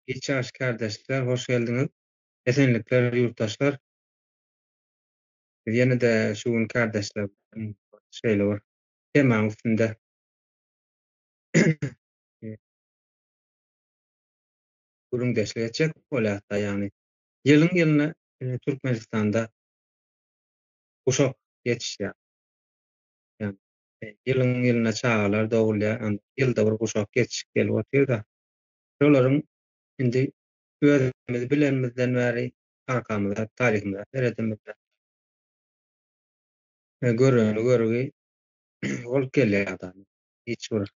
Geç ýaşy kärdeşler hoş geldiňiz. Esenlikler ýurtdaşlar. Biz ýene-de şu gün kärdeşler şeýle bir temanyň üstünde gürrüňdeşlik etjek bolýarys-da, ýagny ýylyň-ýylyna Türkmenistanda guşak geçişýär. ýylyň-ýylyna çagalar dogulýar, ýylda bir guşak geçişip gelip otyr-da, şolaryň indi özümiz bilenimizden bäri arkamyza, taryhymyza seredemizde, göreni görgi bolup gelýär da, hiç bir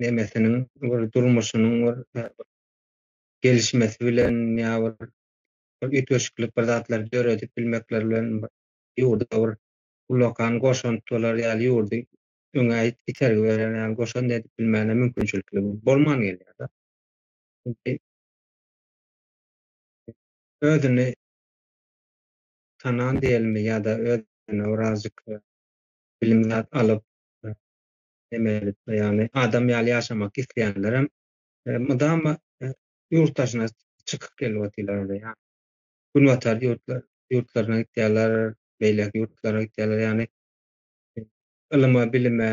nemesiniň, bir durmuşynyň bir gelişmesi bilen ýa bir bir üýtgeşiklik, bir zatlary döredip bilmekleri bilen ýurda bir ullakan goşant bolar ýaly, ýurdy öňe itergi berer ýaly goşant edip bilmäne mümkinçilikleri bolman gelýär-de. Özüni tanan diýelimi ýa-da özüne birazjyk bilim zat alyp, ýagny adam ýaly ýaşamak isleýänlerem mydama ýurt daşyna çykyp gelip otyrlar onda ýa Günbatar ýurtlar ýurtlaryna gitýärler beýleki ýurtlara gitýärler ýagny ylyma bilime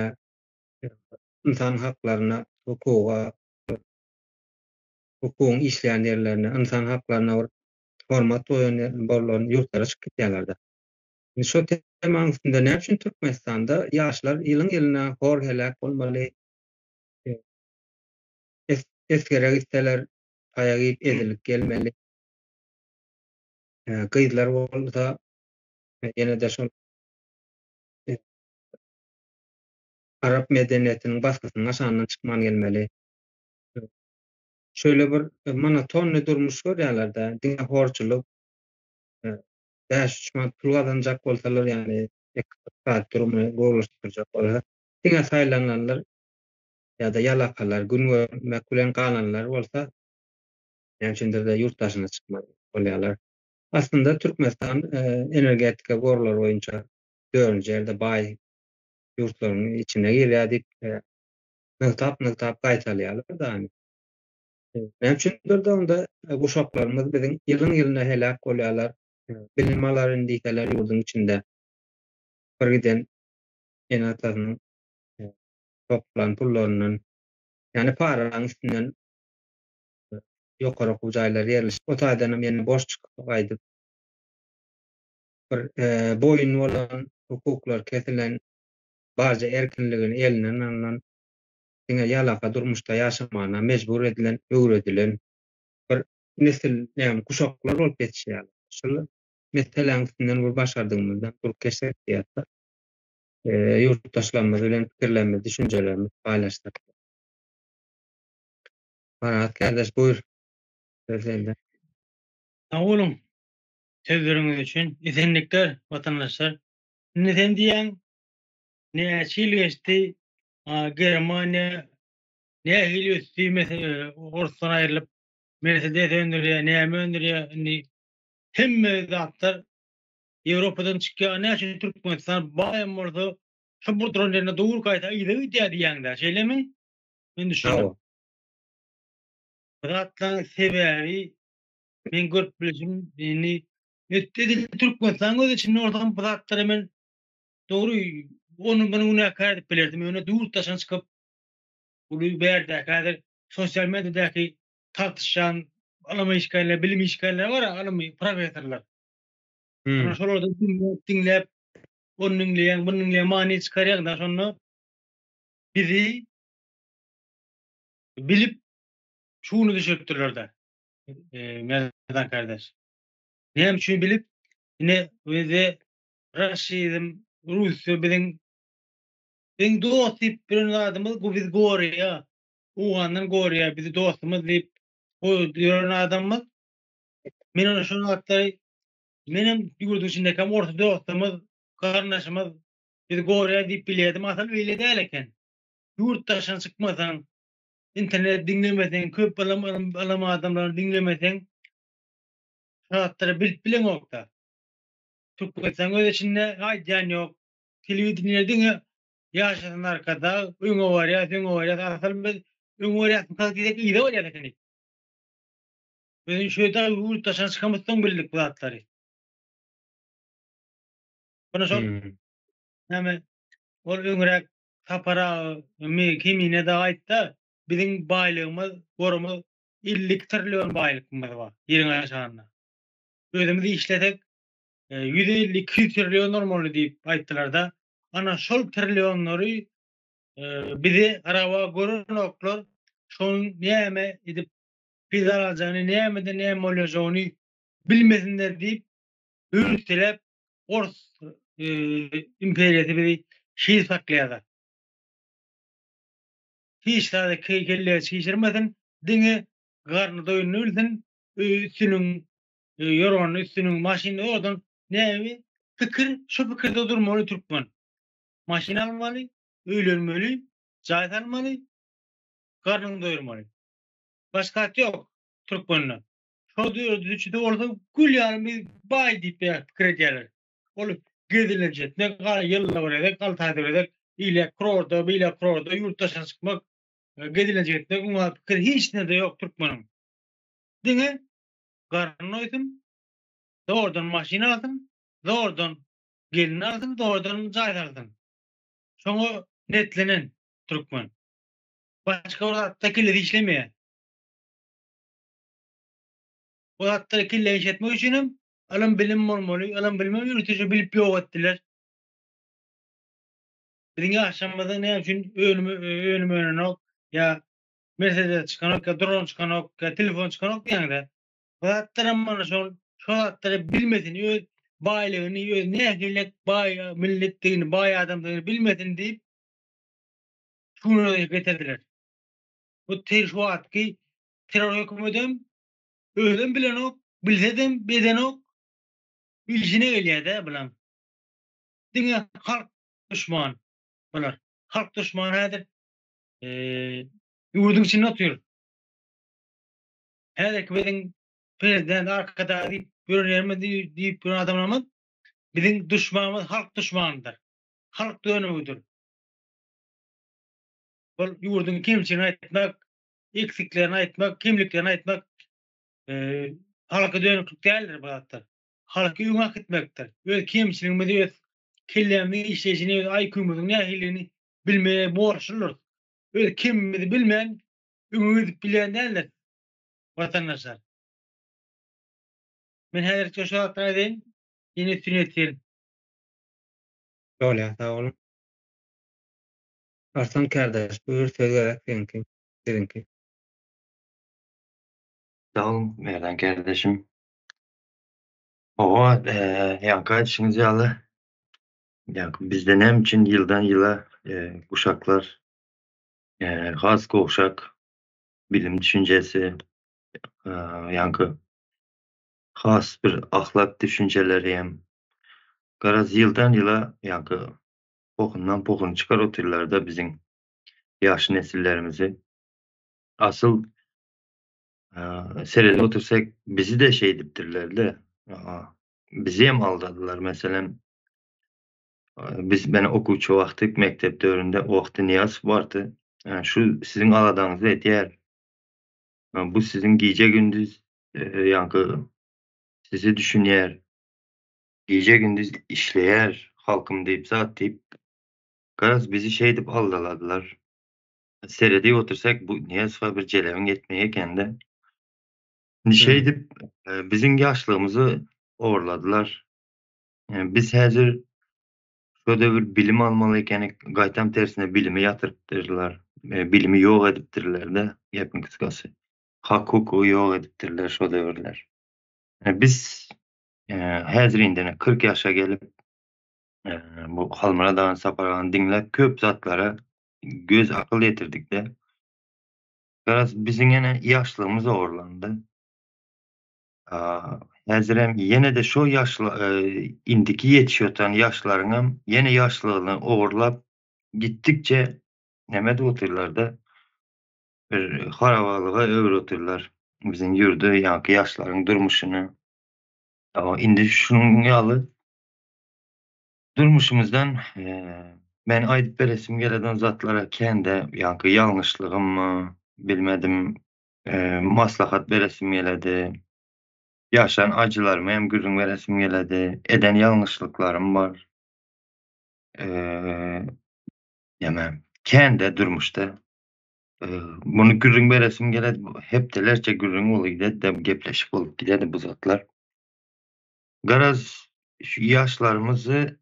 ynsan haklaryna hukuga hukugyň işleýän ýerlerine ynsan haklaryna bir hormat goýan borlan ýurtlara çykyp gitýärlerde indi şo temanyň üstünde näme üçin Türkmenistanda ýaşlar ýylyň ýylyna hor heläk bolmaly Esgere gitseler, taýak iýip, ezilip gelmeli. Gyzlar bolsa, ýene-de şol arap medeniýetiniň basgysynyň aşagyndan çykman gelmeli. Şöyle bir monotonny durmuş görýärler-de, diňe horçulyk, bäş-üç manat pul gazanjak bolsalar, ýagny ykdysady durmuny gowulaşdyrjak bolsa, diňe saýlananlar ýa-da ýalakalar, gün görmek bilen galanlar bolsa, näme üçindir-de ýurt daşyna çykmaz bolýarlar. Aslynda Türkmenistan energetika gorlary boýunça dördünji ýerde baý ýurtlaryň içine girýär diýip nygtap-nygtap gaýtalýarlar dany. Näme üçindir-de onda guşaklarymyz biziň ýylyň-ýylyna heläk bolýarlar, bilim alaryn diýseler ýurduň içinde birgiden ene-atasynyň toplan pullaryndan, ýagny paralaryň üstünden ýokary okuw jaýlary ýerleşip, o taýdanam ýene boş çykyp gaýdyp, bir boýun bolan, hukuklary kesilen, barja erkinligini elinden alnan, diňe ýalaka durmuşda ýaşamagyna mejbur edilen, öwredilen bir nesil, ýagny kuşaklar bolup ýetişýärler. Şol meseläň üstünden bir başardygymyzdan durkeşsek diýýäs-de. ýurtdaşlarymyz bilen pikirlerimizi, düşünjelerimizi paýlaşdyk. Marat kärdeş, buýr, söz sende. Sag boluň sözleriňiz üçin. Esenlikler, watandaşlar. Indi sen diýýäň, näçe ýyl geçdi, Germaniýa nähili ösdi, orusdan aýrylyp, Mersedes öndürýär, näme öndürýär, indi hemme zatlar Ýewropadan çykýa näçe Türkmenistan baýam bolsa şu buduran ýerine dowul gaýta yza gidýä diýýäňdä şeýlemi? Men düşündim. Bu zatlaň sebäbi men görüp bilişim indi edil Türkmenistan öz içinde bolsam bu zatlara men dogry ony muny günäkär edip bilerdim ýöne durt daşyna çykyp uly bärdäki häzir sosial mediadäki tartyşýan ylym işgärleri bilim işgärleri bar ylym professorlar Hum. Şolardan diňläp, diňläp, ony diňleýäň, muny diňleýäň, many çykarýaň-da şonda bizi bilip şu güni düşüripdirler-de, Merdan kardeş. Näme üçin bilip, ine özi raşizm, rusça biziň biziň dost diýip bilen zadymyz bu bizi goraýar. Owgandan goraýar, bizi dostumyz diýip goýup ýören adamymyz Men ona şol wagtlary menem ýurduň içindäkem orta dostumyz, garyndaşymyz bizi gorýar diýip bilýärdim, asyl beýle däl eken. Ýurt daşyna çykmasaň, internet diňlemeseň, köp ylym alan adamlary diňlemeseň, şu zatlary bilip bileňok-da. Türkmenistan öz içinde aýdýan ýok. Telewideniýe diňe ýaşasyn Arkadag, öňe barýas, öňe barýas, asyl biz öňe barýasmykaň diýsek yza barýas ekenik. Özün şöýdip ýurt daşyna çykamyzsoň bildik bu zatlary. Muny şol näme ol öňräk Sapara mi kimine da aýtda biziň baýlygymyz gorumyz 50 trillion baýlygymyz bar ýeriň aşagynda. Özümiz işlesek 150-200 trillion bolmaly diýip aýtdylarda ana şol trillionlary bizi araba görenoklar şonuň näme edip Biz alaljany nämede näme bolýajogyny bilmesinler diýip hüwürtiläp ors imperiýasy bizi şir saklaýada. Hiç zady kelläge çişirmesin diňe garny doýuny bilsin öýi üstüniň ýorgany üstüniň maşyny owadan näbi pikir şu pikirde durmaly türkmen maşyn almaly öýlenmeli jaý salmaly garnyny doýurmaly. Başga at ýok türkmende. Şol döwür düzüçisi bolsa gül ýaly bir baý diýip pikir edýärler. Ol gezelenç etmek, ýylyna bir gezek, alty aýda bir gezek ile kurorta, bile kurorta, ýurt daşyna çykmak, gezelenç etmek oňa pikir hiç nirede ýok türkmeniň. Diňe garny doýsun, zordan maşyn alsyn, zordan gelin alsyn, zordan jaý salsyn. Şoňa netlenen türkmen. Başga bir zatda kellesi işlemeýär. Bu zatda kelle işletmek üçin hem ylym bilim bolmaly. Ylym bilmem ýörite bilip ýok etdiler. Biziň ýaşamyzda näme üçin önüm önüm önenok ýa Mercedes çykanok ýa dron çykanok ýa telefon çykanok diýende. Bu zatlar hem mana şol şol zatlary bilmesin öz baýlygyny öz nähili baý milletdigini baý adamdygyny bilmesin diýip şu güne gelip ýetirdiler. Bu ter şu wagtky terror hökümetem özem bilenok, bilsedem bedenok. Bilşine gelýär-de bulaň. Diňe halk duşman bular. Halk duşman häzir ýurduň içinde otyr. Häzirki biziň prezident arkadag diýip ýörenlerimiz diýip ýören adamlarymyz biziň duşmanymyz halk duşmanydyr. Halk dönügidir. Ol ýurduň kemçiligini aýtmak, eksiklerini aýtmak, kemliklerini aýtmak halka dönüklik däldir bu zatlar. Halky öňe akitmekdir. Öz kemçiligimizi, öz kellämiziň işleýşini, öz IQ-myzyň nähilidigini bilmegi borçludyrys. Öz kemimizi bilmän öňe gidip bilýän däldiris, watandaşlar. Men häzirlikçe şu zatlary aýdaýyn, ýene üstüni ýetirelim. Şol ýa, sag boluň. Arslan kardeş buyur söz gerek seňki biziňki. Sag bol Merdan kardeşim. Hawa ýaňky aýdyşyňyz ýaly ýaňky bizde näme üçin ýyldan ýyla uşaklar has gowşak bilim düşünjesi ýaňky has bir ahlak düşünjeleri hem garaz ýyldan ýyla ýaňky pokundan pokun çykar otyrlarda biziň ýaş nesillerimizi asyl seredip otyrsak bizide şeýdipdirlerde bizem aldadylar meselem biz men okuwçy wagty mekdep döwründe wagty Nyýazow bardy şu siziň aladaňyzy etýär bu siziň gije gündiz ýaňky sizi düşünýär Gije gündiz işleýär halkym diýip zat diýip garaz bizi şeýdip aldaladylar. Seredip otursak bu Nyýazowa bir jelebiň ýetmeýi ekende. Indi şeýdip biziň ýaşlygymyzy orladylar. Biz häzir şu döwür bilim almaly ekenik gaýtam tersine bilimi ýatyrypdyrlar. Bilimi ýok edipdirlerde gepiň kysgasy. Hak hukugy ýok edipdirler şu döwürler. Biz Häzir indene kyrk ýaşa gelip, bu Halmyrat agany, Sapar agany diňläp köp zatlara göz akyl ýetirdik-de. Garaz, biziň ýene ýaşlygymyz ogurlandy. Häzirem ýene-de şo ýaşly, indiki ýetişýotan ýaşlaryňam ýene ýaşlygyny ogurlap gitdikçe näme edip otyrlar-da, bir harabalyga öwürip otyrlar biziň ýurdy, ýaňky ýaşlaryň durmuşyny. Indi şunuň ýaly durmuşymyzdan men aýdyp beresim geleden zatlara kän-de ýaňky ýalňyşlygymmy, bilmedim, maslahat beresim geledi. Ýaşan ajylarymy hem gürrüň beresim geledi. Eden ýalňyşlyklarym bar. Näme, kän-de durmuşda. Muny gürrüň beresim geledi. Bu hepdelerçe gürrüň bolup gidedi, gepleşik bolup gidedi bu zatlar. Garaz şu ýaşlarymyzy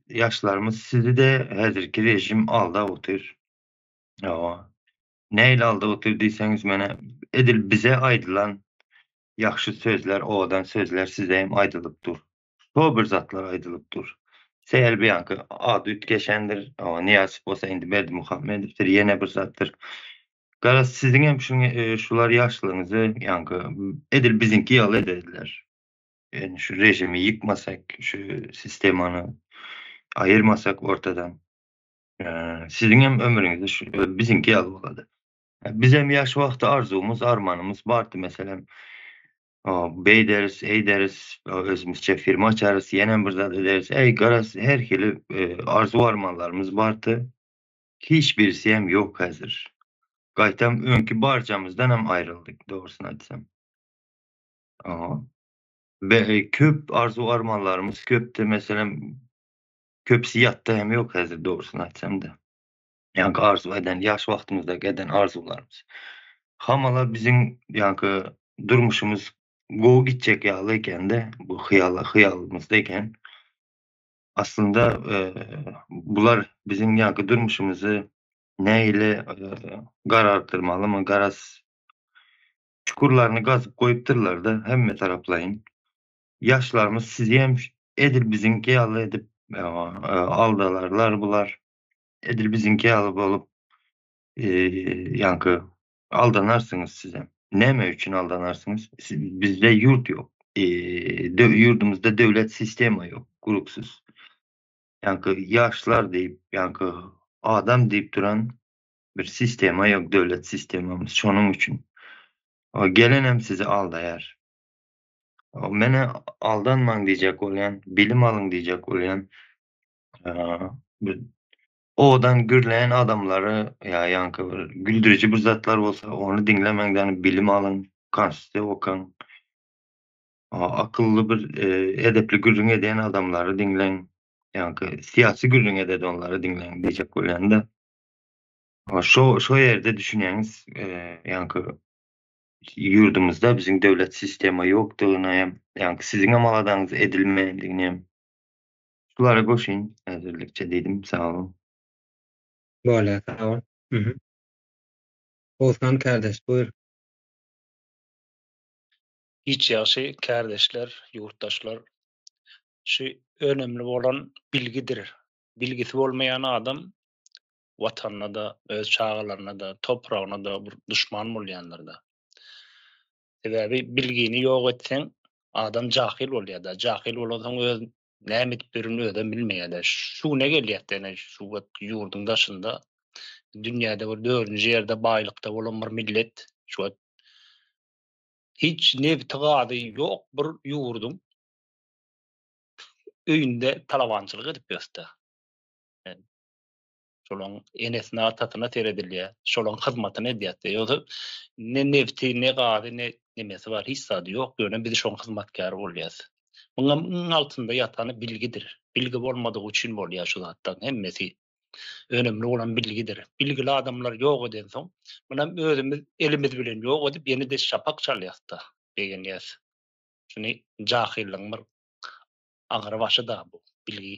ýaşlarymyz sizi-de häzirki režim aldap otyr. Hawa. Nähili aldap otyr diýseňiz, menä edil bize aýdylan ýagşy sözler, owadan sözler size hem aýdylyp dur. şo bir zatlar aýdylyp dur. Sähel buýanky ady üýtgeşendir, Nyýazow bolsa indi Berdimuhamedowdyr, ýene bir zatdyr. Garaz, siziňem şular ýaşlygyňyzy ýaňky edil biziňki ýaly ederdiler. Ýöne şu režimi ýykmasak, şu sistemany aýyrmasak ortadan, siziňem ömrüňiz şu biziňki ýaly bolady. Bizem ýaş wagty arzuwymyz, armanymyz bardy, meselem, Beýderis, eýderis, özümizçe firma açarys, ýenem bir zat ederis, äý, garaz, her hili arzuw-armanlarymyz bardy. Hiç birisi hem ýok häzir. Gaýtam öňki barjamyzdan hem aýryldyk, dogrusyny aýtsam. Köp arzuw-armanlarymyz köpdi, meselem, köpüsi ýatda hem ýok häzir, dogrusyny aýtsam-da. ýaňky arzuw eden, ýaş wagtymyzdaky eden arzuwlarymyz. Hamala biziň ýaňky durmuşymyz gowy gitjek ýaly ekende, bu hyýala hyýalymyzda eken. Aslynda e, bular biziň ýaňky durmuşymyzy nähili e, garartyrmalymy, garaz çukurlaryny gazyp goýupdyrlar-da hemme taraplaýyn. Ýaşlarymyz sizi hem edil biziňki ýaly edip e, e, aldalarlar bular. Edil biziňki ýaly bolup ýaňky aldanarsyňyz sizem. Näme üçin aldanarsyňyz? Bizde ýurt ýok. Ýurdumyzda döwlet sistema ýok, gurupsyz. Ýaňky ýaşlar diýip, ýaňky adam diýip duran bir sistema ýok, döwlet sistemamyz. Şonuň üçin gelenem sizi aldaýar. Menä aldanmaň diýjek bolýan, bilim alyň diýjek bolýan. owadan gürleýän adamlary ýa ýaňky bir güldüriji bir zatlar bolsa ony diňlemekden bilim alyň, konstitusiýa okaň. Akylly bir edepli gürrüň edýän adamlary diňleň. Ýaňky syýasy gürrüň ededi onlary diňleň diýjek bolýan-da. Şo şo ýerde düşünýäňiz ýaňky ýurdumyzda biziň döwlet sistema ýokdugyny hem ýaňky siziň hem aladaňyz edilmeýändigini hem Şulara goşyn häzirlikçe diýdim sag bol. Bolýar sag bol. Mhm. Oguzhan kärdeş buýr. Hiç ýagşy kärdeşler, ýurtdaşlar. Şu önemli bolan bilgidir. Bilgisi bolmaýan adam watanyna da, öz çagalaryna da, topragyna da bir duşman bolýandyr da. Sebäbi bilgini ýok etseň adam jahyl bolýar da. Jahyl bolansoň öz näme edip ýörenini özem bilmeýärdi. Şu güne gelýärdi, ýöne şu wagt ýurduň daşynda dünýäde bir dördünji ýerde baýlykda bolan bir millet, şu wagt hiç nebti gazy ýok bir ýurduň öýünde talabançylyk edip ýörüs-de. şolaň enesine atasyna seredilýä şolaň hyzmatyny edýäs ýogsa ne nebti ne gazy ne nemesi bar hiç zady ýok ýöne biz şoň hyzmatkary bolýas muňam iň altynda ýatany bilgidir bilgi bolmadygy üçin bolýa şu zatlaň hemmesi önemli bolan bilgidir bilgili adamlar ýok edensoň munam özümiz elimiz bilen ýok edip ýenede şapak çalýasda begenýäs şuny jahyllygyň bir agyr başyda bu bilgi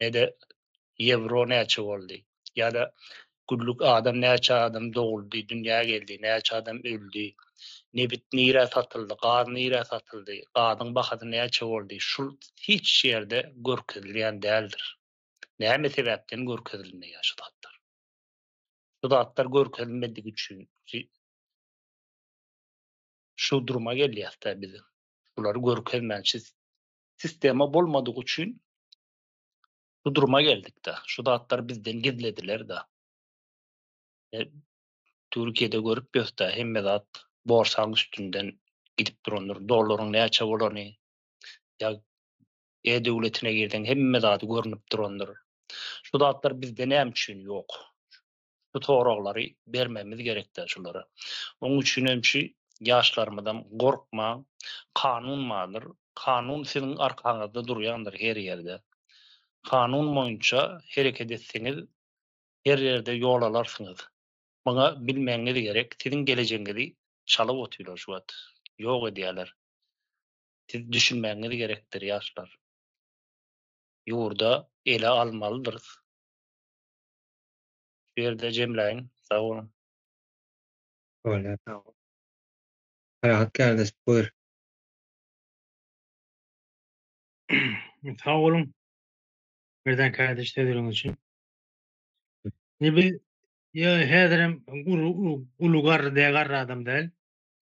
ne-de ýewro näçe boldy, ýa-da günlük adam näçe adam doguldy, dünýä geldi, näçe adam öldi, nebit nirä satyldy, gaz nirä satyldy, gazyň bahasy näçe boldy, şul hiç ýerde görkezilýän däldir. Näme sebäpden görkezilmeýär şu zatlar? Şu zatlar görkezilmedigi üçin şu duruma gelýäs-dä biz. Şulary görkezmän siz sistema bolmadygy üçin bu duruma geldik-de. Şu zatlar bizden gizlediler-de. E, Türkiýede görüp ýörse, hemme zat borsaň üstünden gidip durandyr. Dollaryň näçe bolany, ýa e-döwletine girseň hemme zat görnüp durandyr. Şu zatlar bizde näme üçin ýok? şu soraglary bermemiz gerekdä şulara. Oň üçin hem şu ýaşlarymyzam gorkmaň, kanun bardyr, kanun siziň arkaňyzda durýandyr her ýerde. Kanun boýunça hereket etseňiz her ýerde ýol alarsyňyz. Muňa bilmegiňiz gerek, siziň gelejegiňizi çalyp otyrlar şu wagt, ýok edýärler. Siz düşünmegiňiz gerekdir ýaşlar. Ýurda ele almalydyrys. Şu ýerde jemläýin. Sag boluň. Bolýar sag bol. Parahat kardeş buyur. Sag boluň. Merdan kardeş sözleriňiz üçin. Ne bi ya häzirem uly garry däl garry adam däl.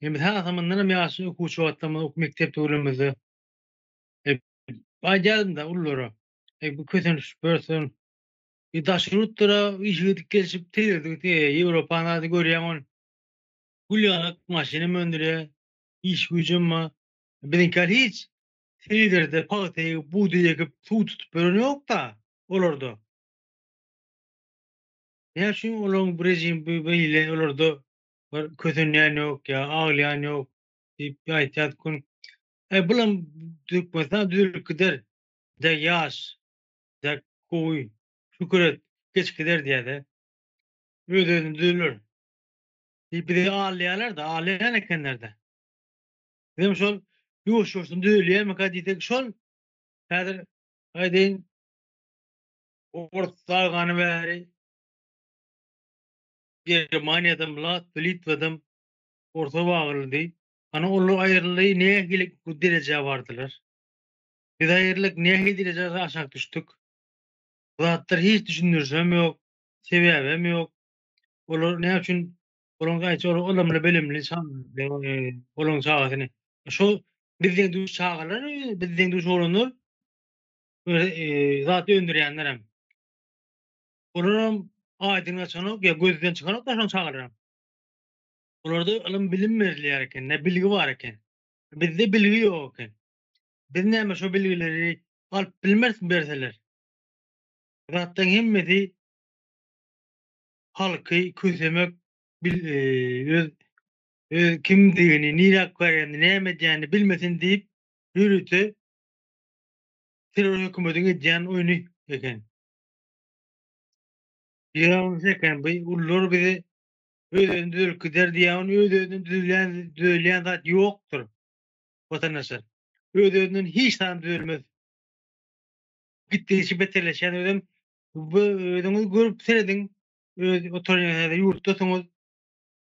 Hem sasa mundan hem ýaşy okuwçy wagtlarymyz ok mekdep döwrümizde aýdýardym-da ullara. Ey bu kösenip börsen E, daşary ýurtlara işe gidip gelşip tigirdik, e, Ýewropany hada görýäň ol. Gül ýaňak maşynam öndürýär, iş güýjem bar. Biziňkiler hiç tigirde pagta egip, bugdaý ekip, suw tutup ýören ýok-da olarda. Näme üçin olaryň bu režim bi beýle olarda bir kösenýän ýok ýa aglaýan ýok diýip aýtýardy gün. E, bulam Türkmenistan düzelip gider. Dek ýaş. dä gowy şükür et geç gider diýädä. Öz özüni düzürler. Diýip bizi alýarlarda alýan ekenlerde. Bizem şol ýuwaş ýuwaşdan düzelýärmika diýsek şol häzir aýdaýyn Ors agany bäri Germaniýadam lat Litwadam orsa bagyryldy. Ana olar aýryldy nähili derejä bardylar. Biz aýrylyk nähili derejä aşak düşdük? Bu zatlar hiç düşündirişem ýok, sebäbem ýok. Olar näme üçin olaň gaýçy ol ylymly bilimli olaň çagasyny şo biz deň duş çagalar biz deň duş oglanlar zat öndürýänlerem. Olaram aýdyň açanok ýa gözden çykaryp daşan çagalaram. Olarda ylym bilim berilýär eken, bilgi bar eken. Bizde bilgi ýok eken. Biz näme şo bilgileri alyp bilmerismi berseler. Zatlaň hemmesi halky kösemek bil öz öz kimdigini nire alyp barýanyny näme edýänini bilmesin diýip ýörite terror hökümediň edýän oýny eken. Ýalňyş eken bu ulylar bizi öz özüni düzelip gider diýýä ony öz özünden düzelýän düzelýän zat ýokdyr. watandaşlar. Öz-özünden hiç zat düzelmez. Gitdigiçe beterleşýän özem. Bu özüňiz görüp serediň. Öz oturýan ýurtdasyňyz.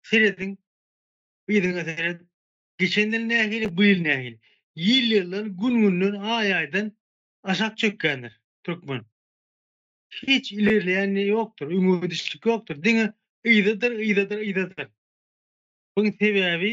Serediň. Yzyňa seret. Geçen ýyl nähili, bu ýyl nähili? Ýyl-ýyldan, gün-günden, aý-aýdan aşak çökýändir türkmen. Hiç ilerleýän ýokdur, öňe gidişlik ýokdur. Diňe yzadyr, yzadyr, yzadyr. Buň sebäbi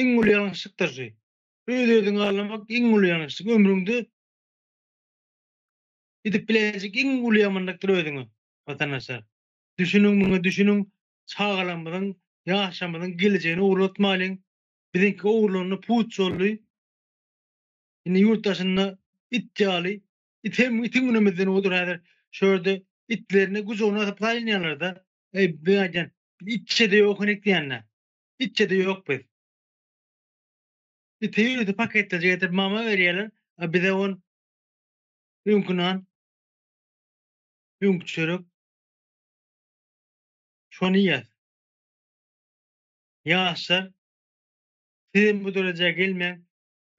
iň uly ýalňyşlykdyr şu. Öz-özüňi allamak iň uly ýalňyşlyk, ömrüňde edip biläýjek iň uly ýamanlykdyr özüňe. Watandaşlar, düşüniň muňa, düşüniň, çagalarymyzyň, ýaşlarymyzyň gelejegini ogurlatmalyň. Biziňki ogurlandy, puç boldy. Indi ýurt daşynda it ýaly, it hem itiň günümizden uludyr häzir. Şu ýerde itlerini gujagyna asyp saýlanýarlar-da. Eý, men aýdýan, itçe-de ýok henek diýýän-dä. Itjede ýok biz. Ite ýüzi paketlejik edip mama berýäler, a bize on öňki nan, öňki çörek. Şony iýýäs. Ýaşlar, sizem bu derejä gelmäň.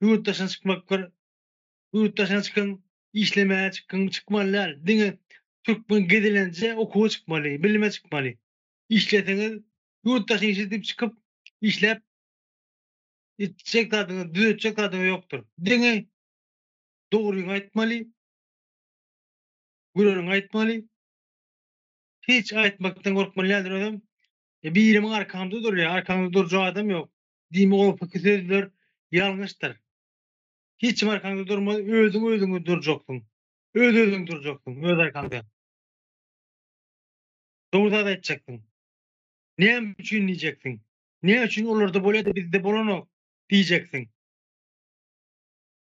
Ýurt daşyna çykmak bir ýurt daşyna çykyň, işlemäge çykyň, çykmaly däl. Diňe türkmen gezelenje okuwa çykmaly, bilime çykmaly. Işleseňiz Ýurt daşyşy diýip çykyp, işläp, etjek zadyňyz, düzetjek zadyňyz ýokdur. Diňe dogryňy aýtmaly, güreniňi aýtmaly. Hiç aýtmakdan gorkmaly däldir özem. E, birimiň arkamda durýar, arkaňda durjak adam ýok. Diýme gopyky sözler ýalňyşdyr. Hiç kim arkaňda durmaz, özüň özüňi durjaksyň. Öz-özüňi durjaksyň, öz arkaňda. Dogry zat aýtjaksyň. Näme üçin diýjeksiň? Näme üçin olarda bolýar-da, bizde bolanok? diýjeksiň.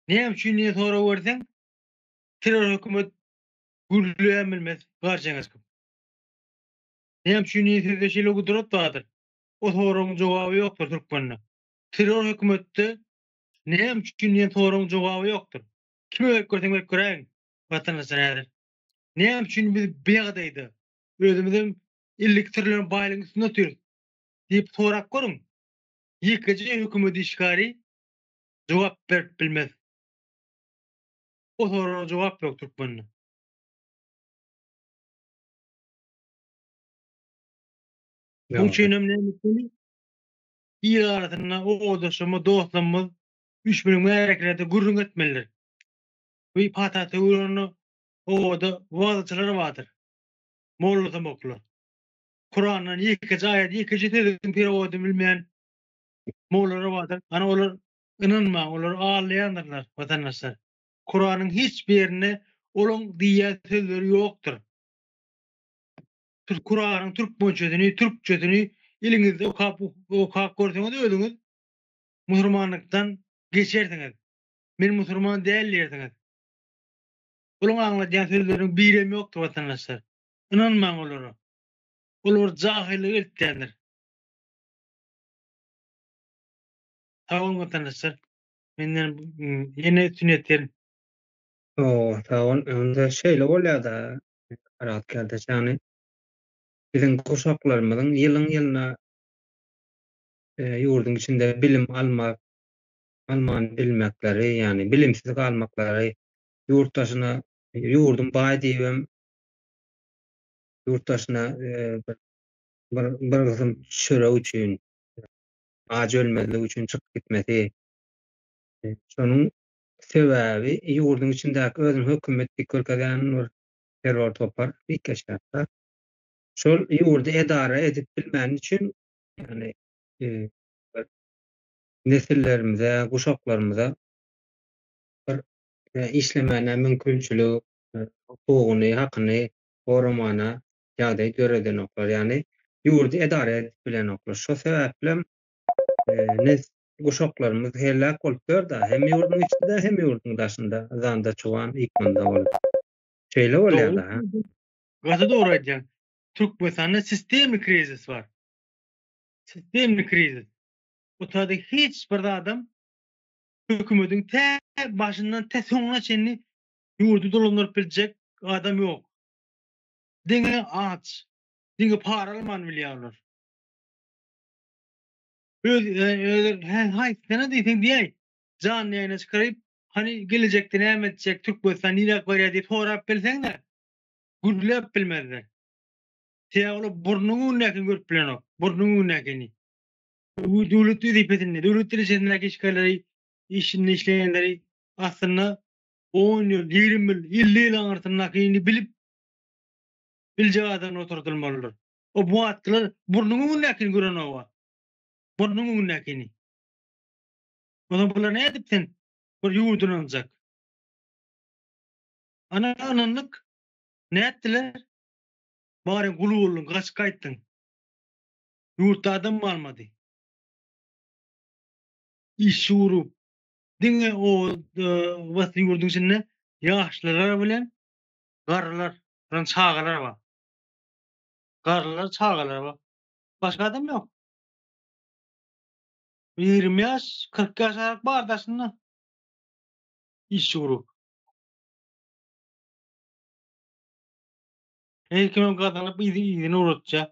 Näme üçin diýen sorag berseň, terror hökümet gürleýän bilmez, garjeňeç köp. Näme üçin diýen sözde şeýle gudrat bardyr. O soragyň jogaby ýokdur türkmende. Terror hökümetde näme üçin diýen soragyň jogaby ýokdur. Kime berip görseň berip göräýiň, watandaşdan häzir. Näme üçin biz biýagadaýda? Özümizem illiktirlen baýlygyň üstünde otyr? diýip sorap görüň, ýekeje hökümet işgäri jogap berip bilmez. O soraga jogap ýok türkmende. Muň üçinem näme etmeli? Il arasynda owadanşymyz, dostlarymyz üşbüni märekelerde gürrüň etmeliler. Bu pata sögülende obada wagzyçylar bardyr. mollasamoklar. Kurandan ýekeje aýat, ýekeje sözüň perowadyny bilmeýän mollalar bardyr. Ana olar ynanmaň, olar aldaýandyrlar watandaşlar. Kuranyň hiç bir ýerinde olaň diýýän sözleri ýokdur. Siz Kuranyň türkmençesini, türkçesini iliňizde okap okap görseňiz özüňiz musurmanlykdan geçersiňiz. Men musurman däl diýersiňiz. Olaryň aňladýan sözleriniň birem ýokdur watandaşlar. Ynanmaň olara. Olar jahylyk eltýändir. Sag boluň watandaşlar. Menden ýene üstün ýetir. Howwa sag bol. Onda şeýle bolýada Arat kärdeş ýagny biziň guşaklarymyzyň ýylyň ýylyna ýurduň içinde bilim almak alman bilmekleri ýagny bilimsiz galmaklary ýurt daşyna ýurdum baý diýibem ýurt daşyna bir bir gysym çörek üçin aç ölmezlik üçin çykyp gitmesi şonuň sebäbi ýurduň içindäki özüni hökümet diýip görkezýän bir terror topar bikgeçlikde şol ýurdy edara edip bilmän üçin ýagny nesillerimize guşaklarymyza bir işlemäne mümkinçiligi, hukugyny, hakyny goramagyna ýagdaý döredenoklar, ýagny ýurdy edara edip bilenoklar. Şo sebäplem nesli guşaklarymyz heläk bolupdyrda, hem ýurduň içinde, hem ýurduň daşynda, yzanda çoban, ýykgynda ol. Şeýle bolýar-da. Gaty dogry aýdýaň. Türkmenistanda sistemni krizis bar. Sistemni krizis. Bu taýda hiç bir zadam hökümediň tä başyndan tä soňuna çenli ýurdy dolandyryp biljek adam ýok. Diňe aç, diňe para almany bilýärler. Öz özler haýsy sene diýseň diýäý, janly ýaýyna çykaryp, hany gelejekde näme etjek, Türkmenistan niräk barýar diýip sorap bilseň-de, gürläp bilmezler. Sebäbi olar burnuň öňündäkini görüp bilenok, burnuň öňündäkini. Bu döwlet wezipesinde, döwlet derejesindäki işgärleri, işinde işleýänleri aslynda on ýyl, ýigrimi ýyl, elli ýyl aňyrsyndakyny bilip, biljek adamlar oturdylmalydyr. O bu atkylar burnuň öňündäkini görenok-a. Burnuň öňündäkini. Onsoň bular nädip sen bir ýurt ynanjak? Ana ynandyk. Nätdiler? Baryň gul bolduň, gaçyp gaýtdyň. Ýurtda adam galmady. Işi urup, diňe oba-da ýurduň içinde ýaşlylar bilen garrylar, soň çagalar bar. Garrylar, çagalar bar. Başga adam ýok. Ýigrimi ýaş, kyrk ýaş aralyk bar daşynda. Işi urup. Her kim gazanyp yzyna ugratýar.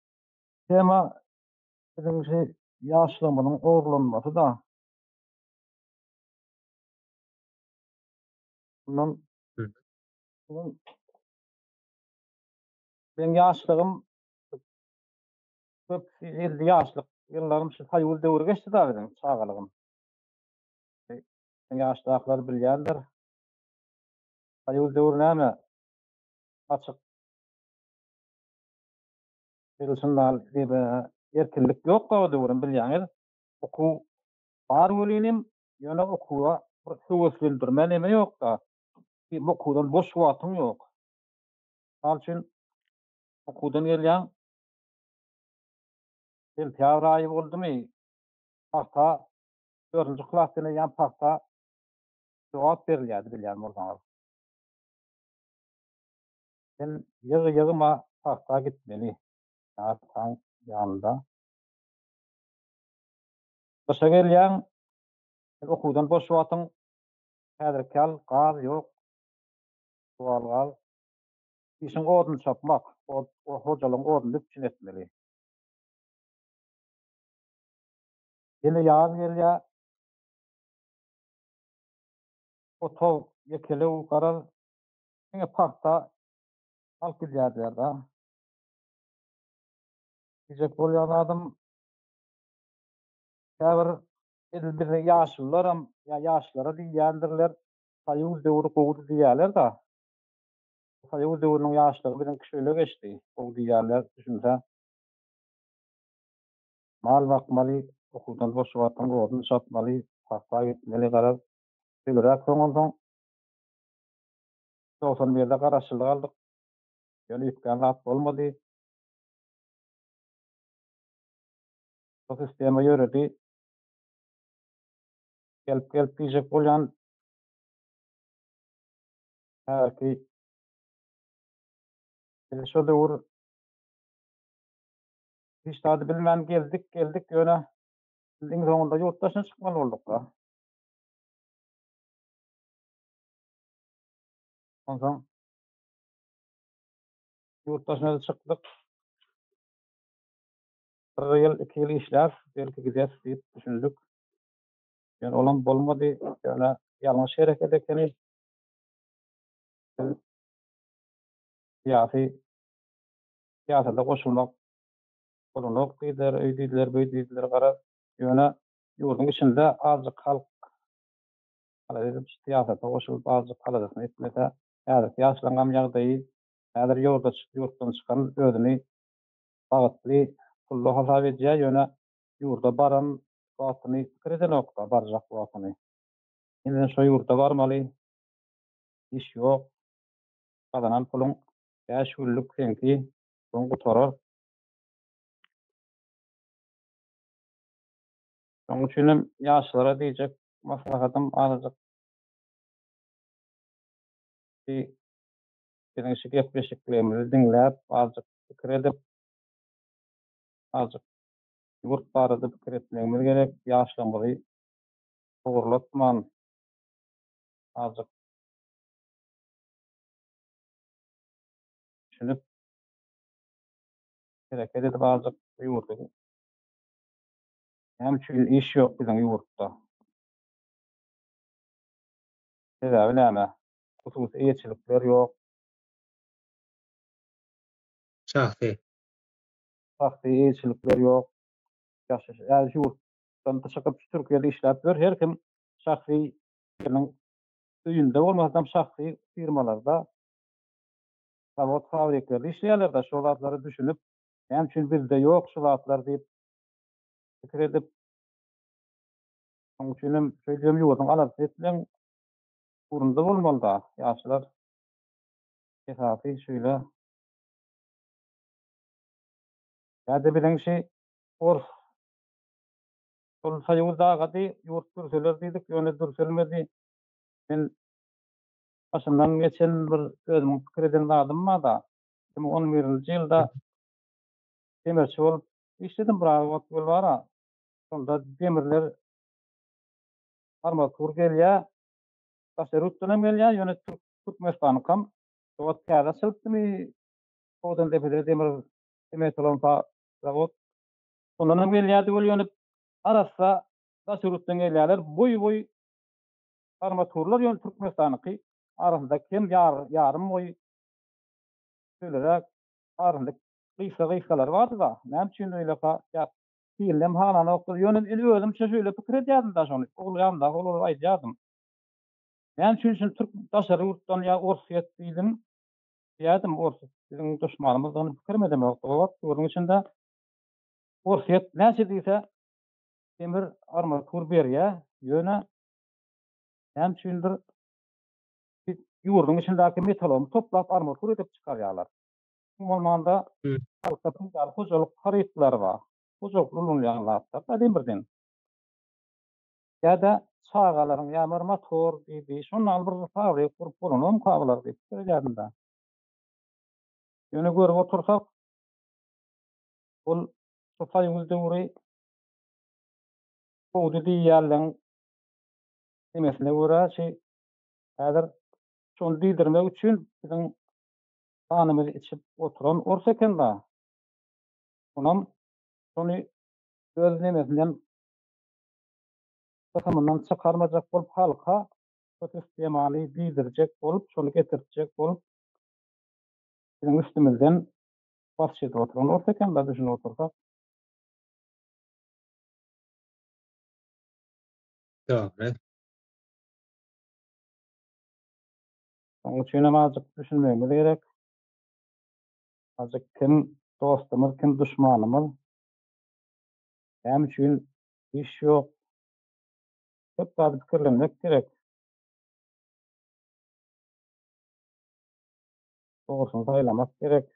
Tema biziň şu ýaşlygymyzyň ogurlanmasy-da. Mundan öň meň ýaşlygym köp elli ýaşlyk ýyllarym şu soýuz döwri geçdi-de biziň çagalygym. Meň ýaşdakylar bilýändir. Soýuz döwri näme, açyk. Biz üçin dal dede erkinlik ýokdy o döwürem bilýäňiz. Okuw bar welinem, ýöne okuwa bir höweslendirme neme ýokda. Diýip okuwdan boş wagtyň ýok. Mysal üçin okuwdan gelýäň, sentýabr aýy boldumy, pagta dördünji klas diýen ýaly pagta jogap berilýärdi bilýän bolsaňyz. Sen ýygy ýygyma pagta gitmeli ataň ýanynda. Gyşa gelýäň, sen okuwdan boş wagtyň häzirki ýaly gaz ýok, suwal gaz. Işiň odun çapmak, hojalygyň oduny üpjün etmeli. Ýene ýaz gelýä, otag ýekelew garaz, Diňe pagta alyp gidýärdiler-de. Diýjek bolýan zadym, käbir edil biziň ýaşulularam ýa ýaşlara diýýändirler, Soýuz döwri gowudy diýýärler-de. Soýuz döwrüniň ýaşlygy biziňki şeýle geçdi, gowy diýýärler, düşünsä. Mal bakmaly, okuwdan boş wagtyň oduny çapmaly, pagta ekmeli, garaz, döliräk soňansoň, Togsan birde garaşsyzlyk aldyk. Ýöne üýtgän zat bolmady. Bu sistema ýöredi. Gelip gelip diýjek bolýan. Häzirki Biz şo döwür hiç zady bilmän geldik, geldik, ýöne biz iň soňunda ýurt daşyna çykmaly bolduk-da. Ondan yurt daşyna da çykdyk. Bir ýyl, iki ýyl işläp, belki gideris diýip düşündik. Ýöne olam bolmady. Ýöne ýalňyş hereket ekeni. Biz syýasy syýasata goşulmak bolanok diýdiler, öý diýdiler, böý diýdiler garaz. Ýöne ýurduň içinde azjyk halk Halyzow syýasata goşulyp azjyk halyzasyn etmese, häzirki ýaşlaryňam ýagdaýy, häzir ýurda çyk, ýurtdan çykan özüni bagtly, pully hasap edýär, ýöne ýurda baran wagtyny pikir edenok-da, barjak wagtyny. Ýene-de şo ýurda barmaly, iş ýok, gazanan puluň bäş günlük seňki, soň gutarar. Şoň üçinem ýaşlara diýjek Maslahatym azajyk bi biziň şu gepleşiklerimizi diňläp azajyk pikir edip azajyk ýurt barada pikir etmegimiz gerek ýaşlygymyzy howurlatman azajyk düşünip hereket edip azajyk bu ýurdy Näme üçin iş ýok biziň ýurtda? Sebäbi näme? Hususy eýeçilikler ýok. Şahsy. Şahsy eýeçilikler ýok. Ýaşaş ýaly şu ýurt dan çykyp şu Türkiýede işläp ýör. Her kim şahsy biriniň öýünde bolmasam şahsy firmalarda, zawod-fabriklerde işleýärler-de, şo zatlara düşünip, näme üçin bizde ýok şu zatlar diýip, pikir edip, şoň üçinem şeýdibem ýurduň aladasy etmegiň ugrunda bolmaly-da. Ýaşlar esasy şeýle. Ýa-da biziňki ors. Şol soýuz dagady, ýurt dürseler diýdik, ýöne dürselmedi. Men başymdan geçen bir özümiň pikir eden zadym bar-da. Iki müň on birinji ýylda demirçi bolup Işledim bir ara ot gül bara. Şonda demirler armatur gelýä. Daşary ýurtdan hem gelýä, ýöne türk türkmenistanyňkam şu wagt täze açylypdymy, Togdan depede demir sementolary bar zawod. Şondan hem gelýärdi weli ýöne arassa daşary ýurtdan gelýärler. Boý-boý armaturlar ýöne türkmenistanyňky arasynda kem ýarym boý şeýleräk arasynda Gysga-gysgalary bardy-da, näme üçin öýleka ýat? Hilinem hananokdyr. Ýöne men özümçe şeýle pikir edýärdim daş ony. Uglaýamda, ol-ol aýdýardym. Näme üçin şuny türk daşary ýurtdan ýa orsýet diýdim? Diýýärdim, orsýet biziň duşmanymyzdygyny pikirim edemok. Doga-bat ýurduň içinde orsýet näçe diýse demir armatur berýär, ýöne näme üçindir ýurduň içindäki metalomy toplap armatur edip çykarýarlar. Iň bolmanda halka peýdaly hojalyk harytlary bar. Hojalykda ulanylýan zatlar da diýen birden. Ýa-da çagalaryň ýa bir motor diýdi. Şondan alyp bir fabrik gurup bolanok ka bular diýip pikir edýärin-dä. Ýöne görüp otursak, ol şu soýuz döwri sowdy diýýänleň demesine görä şi häzir şony diýdirmek üçin biziň Ganymyzy içip oturan ors eken-la. Onam şony öz nemesinden, kysymyndan çykarmajak bolup halka şu sistemaly diýdirjek bolup, şony getirtjek bolup biziň üstümizden basyş edip oturan ors eken-la, düşünip otursak. Dogry. Onuň üçin hem azjyk düşünmegimiz gerek. Azjyk kim dostumyz, kim duşmanymyz? Näme üçin iş ýok? Köp zady pikirlenmek gerek. Dogrusyny saýlamak gerek.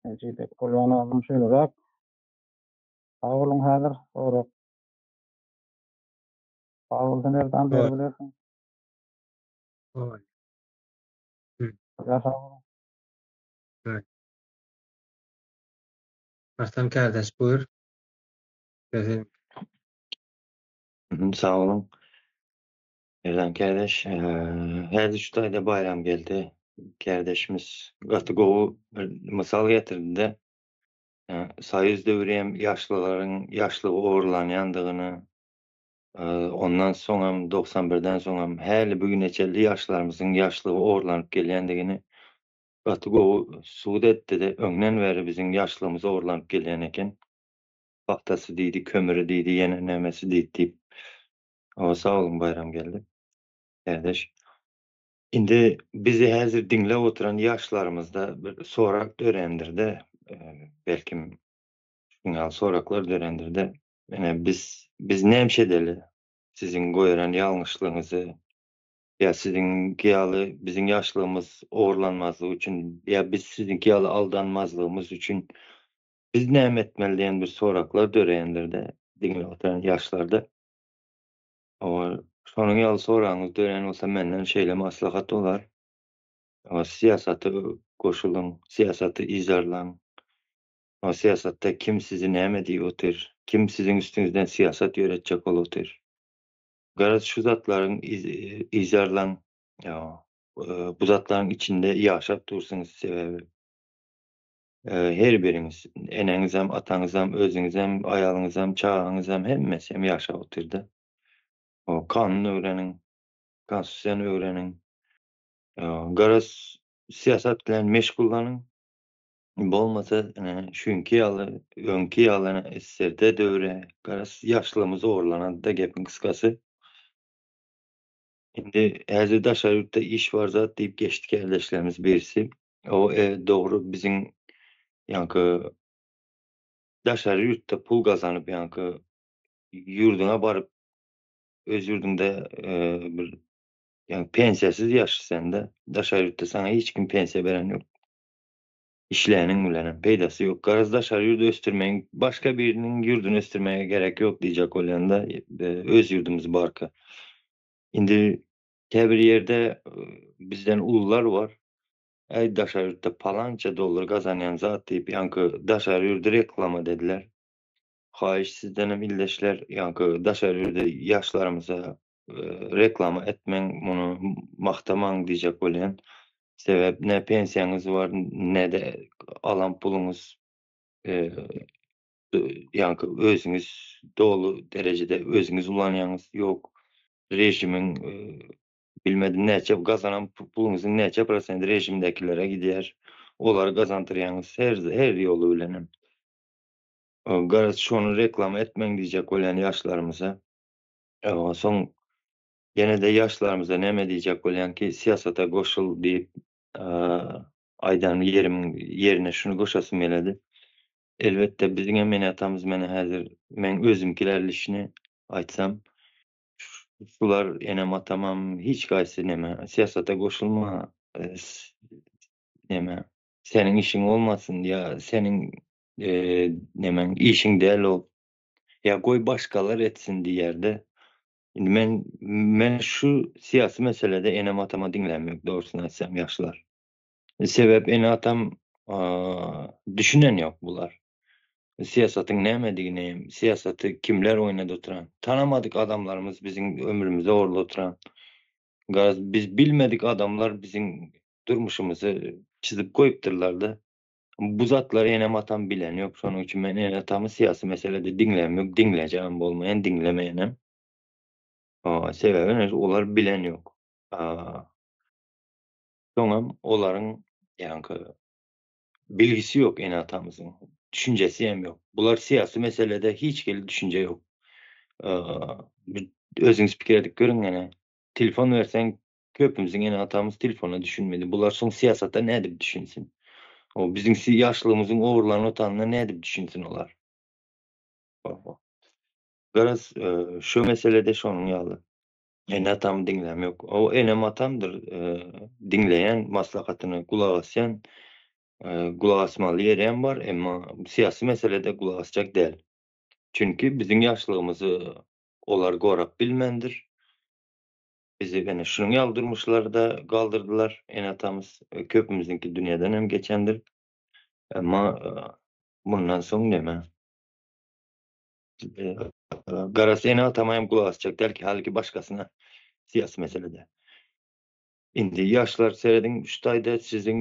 Ejizek Polwan agam şeýleräk. Sag boluň häzir sorag. Sag bol Taner dan beri bilersiň. Oý. Ýa-ha. Oý. Arslan kardeş buyur. Sözün. Sag bolun. Erdan kardeş, häzir şu taýda Baýram geldi. Kardeşimiz gaty gowy bir mysal getirdi-de. Soýuz döwri hem ýaşlylaryň ýaşlygy ogurlanýandygyny, Ondan soňam, dogsan birden soňam häli bu güne çenli ýaşlarymyzyň ýaşlygy orlanyp gelýändigini gaty gowy subut etdi-de, öňden bäri biziň ýaşlygymyz orlanyp gelýän eken. Pagtasy diýdi, kömüri diýdi, ýene nämesi diýdi diýip. Hawa, sag boluň Baýramgeldi kärdeş. Indi bizi häzir diňläp oturan ýaşlarymyzda bir sorag dörändir-de, belkim, şunuň ýaly soraglar dörändir-de, Ine, biz, biz nämişe edeli? Siziň goýeren ýalňyşlygyňyzy ýa siziňki ýaly biziň ýaşlygymyz ogurlanmazlygy üçin, ýa biz siziňki ýaly aldanmazlygymyz üçin biz näme etmeli diýen bir soraklar döreýändir-de, diňläp oturan ýaşlarda. Hawa, şonuň ýaly soragyňyz döreýän bolsa, menden şeýle maslahat bolar, Hawa, syýasata goşulyň, syýasaty yzarlaň. O syýasatda kim sizi näme diýip otyr, kim siziň üstüňizden syýasat ýöretjek bolup otyr? Garaz şu zatlaryň yzarlaň, bu zatlaryň içinde ýaşap dursuňyz sebäbi her biriňiz, eneňizem, ataňyzam, özüňizem, aýalyňyzam, çagaňyzam hemmesem ýaşap otyrda. Kanun öwreniň, konstitusiýany öwreniň. Garaz syýasat bilen meşgullanyň. Bolmasa şu günki ýaly öňki ýaly SSRD döwri garaz ýaşlygymy zorlanady-da gepiň gysgasy. Indi häzir daşary ýurtda iş bar zat diýip geçdi kärdeşlerimiz birisi. O e dogry biziň ýaňky daşary ýurtda pul gazanyp ýaňky ýurduňa baryp öz ýurduňda bir ýaňky pensiýasyz ýaşaýsanda daşary ýurtda saňa hiç kim pensiýa beren ýok. Işläniň bilenem peýdasy ýok. Garaz daşary ýurdy ösdürmeýin. Başga biriniň ýurduny ösdürmäge gerek ýok diýjek bolýanda öz ýurdumyz barka. Indi käbir ýerde bizden ulular bar. Äý daşary ýurtda palança dollar gazanýan zat diýip ýaňky daşary ýurdy reklama dediler. Haýyş sizdenem ildeşler ýaňky daşary ýurdy ýaşlarymyza reklama etmeň muny magtamaň diýjek bolýan sebäp ne pensiýaňyz bar nede alan puluňyz ýaňky özüňiz doly derejede özüňiz ulanýaňyz ýok režimiň bilmedim näçe gazanan puluňyzyň näçe prosent režimdekilere gidýär olary gazandyrýaňyz her ýoly bilenem garaz şony reklama etmeň diýjek bolýan ýaşlarymyza. Onsoň ýene-de ýaşlarymyza näme diýjek bolýan ki, syýasata goşul diýip aýdan ýerim ýerine şuny goşasym geledi. Elbetde biziň hem ene atamyz menä häzir meň özümkiler lişni aýtsam şular enem atamam hiç gaýsy näme syýasata goşulma näme seniň işiň bolmasyn ýa seniň näme işiň däl ol ýa goý başgalar etsin diýerdi. Indi men men şu syýasy meselede enem-atama diňläm ýok dogrusyny aýtsam ýaşlar. Sebäp ene-atam düşünen ýok bular. Syýasatyň nämedigini, syýasaty kimler oýnady oturan. Tanamadyk adamlarymyz biziň ömrümizi orly oturan. Garaz biz bilmedik adamlar biziň durmuşymyzy çyzyp goýupdyrlar-da. Bu zatlary enem-atam bilen ýok. Şonuň üçin men ene-atamy syýasy meselede diňläm ýok, diňlejegem bolmaýan, diňlemeýänem. Sebäbi olar bilen ýok. Soňam olaryň ýaňky bilgisi ýok ene-atamyzyň, düşünjesi hem ýok. Bular syýasy meselede hiç hili düşünje ýok. Özüňiz pikir edip görüň ene, telefon berseň Köpümiziň ene-atamyz telefona düşünmedi. Bular soň syýasata nädip düşünsin? O, biziň si ýaşlygymyzyň ogurlan otanyna nädip düşünsin olar? Oho. Garaz, e, şu meselede şonuň ýaly. Ene-atamy diňläm ýok. O, enem-atamdyr, e, diňleýän, maslahatyna gulak asýan, e, gulak asmaly ýerem bar, emma syýasy meselede gulak asjak däl. Çünki biziň ýaşlygymyzy olar gorap bilmändir. Bizi ene şunuň ýaly durmuşlarda galdyrdylar. Ene-atamyz köpümiziňki dünýeden hem geçendir. Emma mundan soň neme? Garasy ene-atama hem gulak asjak dälki, halyki başgasyna syýasy meselede. Indi ýaşlar serediň şu taýda siziň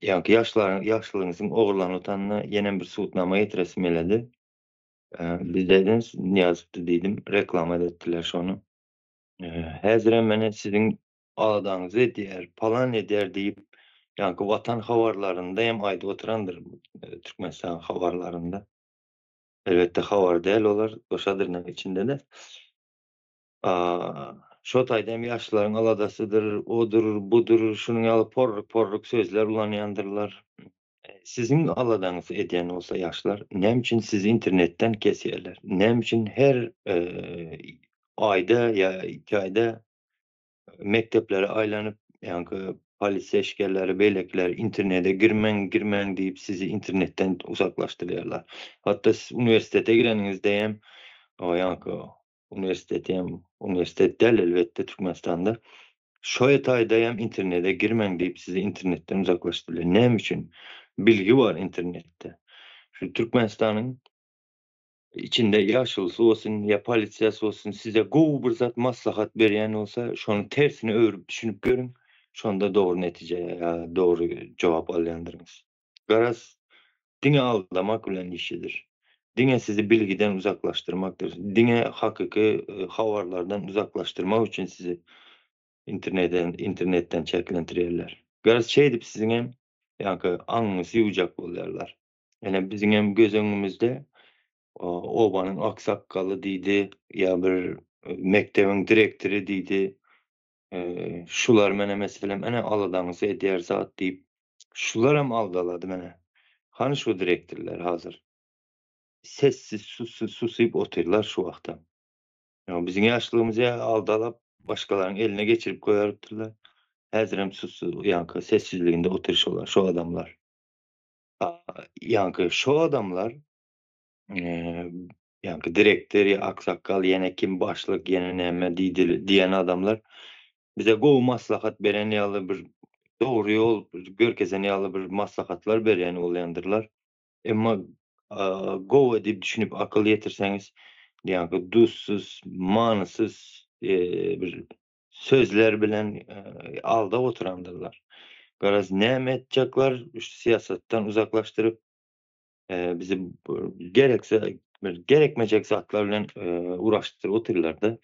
ýaňky ýaşlaryň ýaşlygyňyzyň ogurlanyp utanyna ýenem bir subutnama getiresim geledi. Bizde edeniz Nyýazow-da diýdim, reklama-da etdiler şony. Häzirem ene siziň aladaňyzy edýär, palan edýär diýip, ýaňky watan habarlarynda hem aýdyp oturandyr, Türkmenistan habarlarynda. Elbetde habar däl olar, goşadynyň içinde-de. Şo taýda hem ýaşlaryň aladasydyr, odur, budur, şunuň ýaly porruk-porruk sözler ulanýandyrlar. Siziň aladaňyz edýän bolsa ýaşlar näme üçin sizi internetden kesýärler? Näme üçin her aýda ýa iki aýda mekdeplere aýlanyp ýaňky polisiýa işgerleri beýlekiler internete girmäň girmäň diýip sizi internetden uzaklaşdyrýarlar. Hatda siz uniwersitete gireniňizde hem ýaňky Uniwersiteti hem uniwersitet däl elbetde Türkmenistanda. Şoe taýda hem internete girmäň diýip sizi internetden uzaklaşdyrýar. Näme üçin? Bilgi bar internetde. Şu Türkmenistanyň içinde ýaşulysy bolsun ýa polisiýasy bolsun size gowy bir zat maslahat berýän bolsa şony tersine öwrüp düşünip görüň şonda dogry netije ýa dogry jogap alýandyryňyz. Garaz, diňe aldamak bilen işidir. Diňe sizi bilgiden uzaklaşdyrmakdyr. Diňe hakyky habarlardan uzaklaşdyrmak üçin sizi internetden çäklendirýärler. Garaz, şeýdip siziň hem ýaňky aňyňyzy ýuwjak bolýarlar. Ine, biziň hem göz öňümizde obanyň aksakgaly diýdi, ýa bir mekdebiň direktory diýdi. Şular menä meselem ene aladaňyz edýär zat diýip şular hem aldalady menä. Hany şu direktirler hazir. Sessiz sussiz susyp otyrlar şu wagtam. Ýa biziň ýaşlygymyzy aldalap başgalaryň eline geçirip goýardylar. Häzirem sussiz ýanky sessizliginde otyr şolar şu adamlar. Ýanky şu adamlar ýa-da direktor ýa aksakgal ýene kim başlyk ýene näme diýen adamlar bize gowy maslahat beren ýaly bir dogry ýol görkezen ýaly bir maslahatlar berýän bolýandyrlar. Emma gowa diýip düşünip akyl ýetirseňiz ýa-da duzsuz manysyz bir sözler bilen aldap oturandyrlar. Garaz näme etjekler, syýasatdan uzaklaşdyryp bizi gerekse gerekmejek zatlar bilen uraşdyryp otyrlarda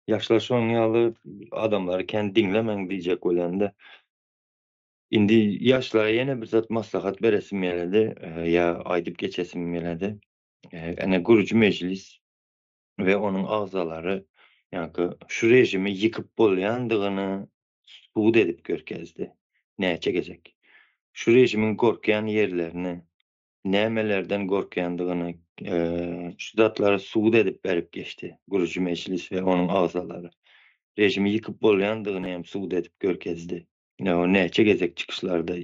yaşlar şoň ýaly adamlar kän diňlemeň diýjek bolanda indi yaşlara ýene bir zat maslahat beresim geledi ýa aýdyp geçesim geledi ene gürüji mejlis we onuň agzalary ýa-da şu režimi ýykyp bolýandygyny subut edip görkezdi. Näçe gezek. Şu režimiň gorkýan ýerlerini, nämelerden gorkýandygyny, şu zatlary subut edip berip geçdi. Gürji mejlis we onuň agzalary. Režimi ýykyp bolýandygyny hem subut edip görkezdi. Näçe gezek çykyşlarda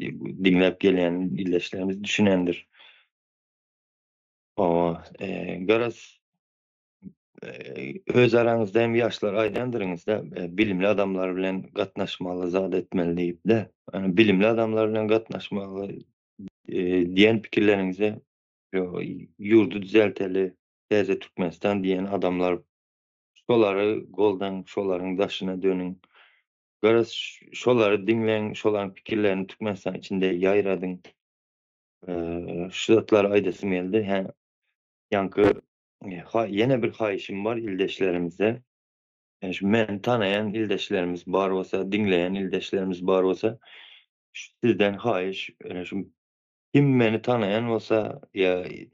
diňläp gelýän ildeşlerimiz düşünendir. Hawa, garaz, öz araňyzda hem ýaşlar aýdandyryňyz-da, bilimli adamlar bilen gatnaşmaly, zat etmeli diýip-de. Bilimli adamlar bilen gatnaşmaly diýen pikirleriňize ýurdy düzelteli, täze Türkmenistan diýen adamlar, şolary goldaň, şolaryň daşyna dönüň. Garaz, şolary diňläň, şolaryň pikirlerini Türkmenistan içinde ýaýradyň. Şu zatlary aýdasym geldi. Hä, ýaňky ýene bir haýyşym bar ildeşlerimize. Şu meni tanaýan ildeşlerimiz bar bolsa, diňleýän ildeşlerimiz bar bolsa, sizden haýyş, şu kim meni tanaýan bolsa ýa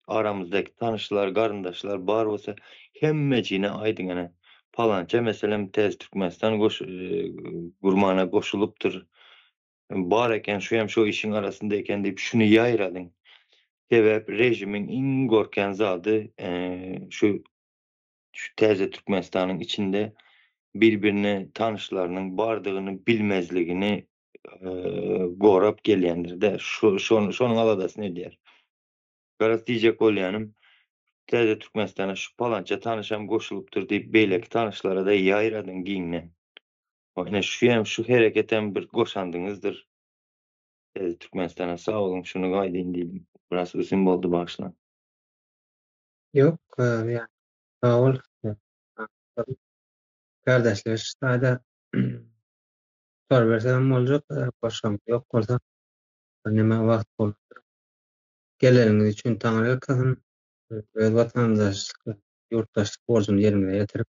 aramyzdaky tanyşlar, garyndaşlar bar bolsa, hemmejigine aýdyň ene, palança meselem Täze Türkmenistan gurmana goşulypdyr. Bar eken, şu hem şu işiň arasynda eken diýip şuny ýaýradyň. Sebäp režimiň iň gorkýan zady şu şu täze Türkmenistanyň içinde bir-birine tanyşlarynyň bardygyny bilmezligini gorap gelýändir-de. Şu şony şonuň aladasyny edýär. Garaz diýjek bolýanym, täze Türkmenistana şu palança tanyşam goşulypdyr diýip beýleki tanyşlara-da ýaýradyň giňden. Ine şu hem şu hereketem bir goşandyňyzdyr. Siz Türkmenistana sag boluň şuny aýdyn diýdim. Biraz uzyn boldy bagyşlaň. Ýok ýa sag bol kardeşleş taýda tutar bersem boljak goşgam ýok bolsa birneme wagt bolupdyr. Geleniňiz üçin taňryýalkasyn öz watandaşlyk ýurtdaşlyk borjuny ýerine ýetirip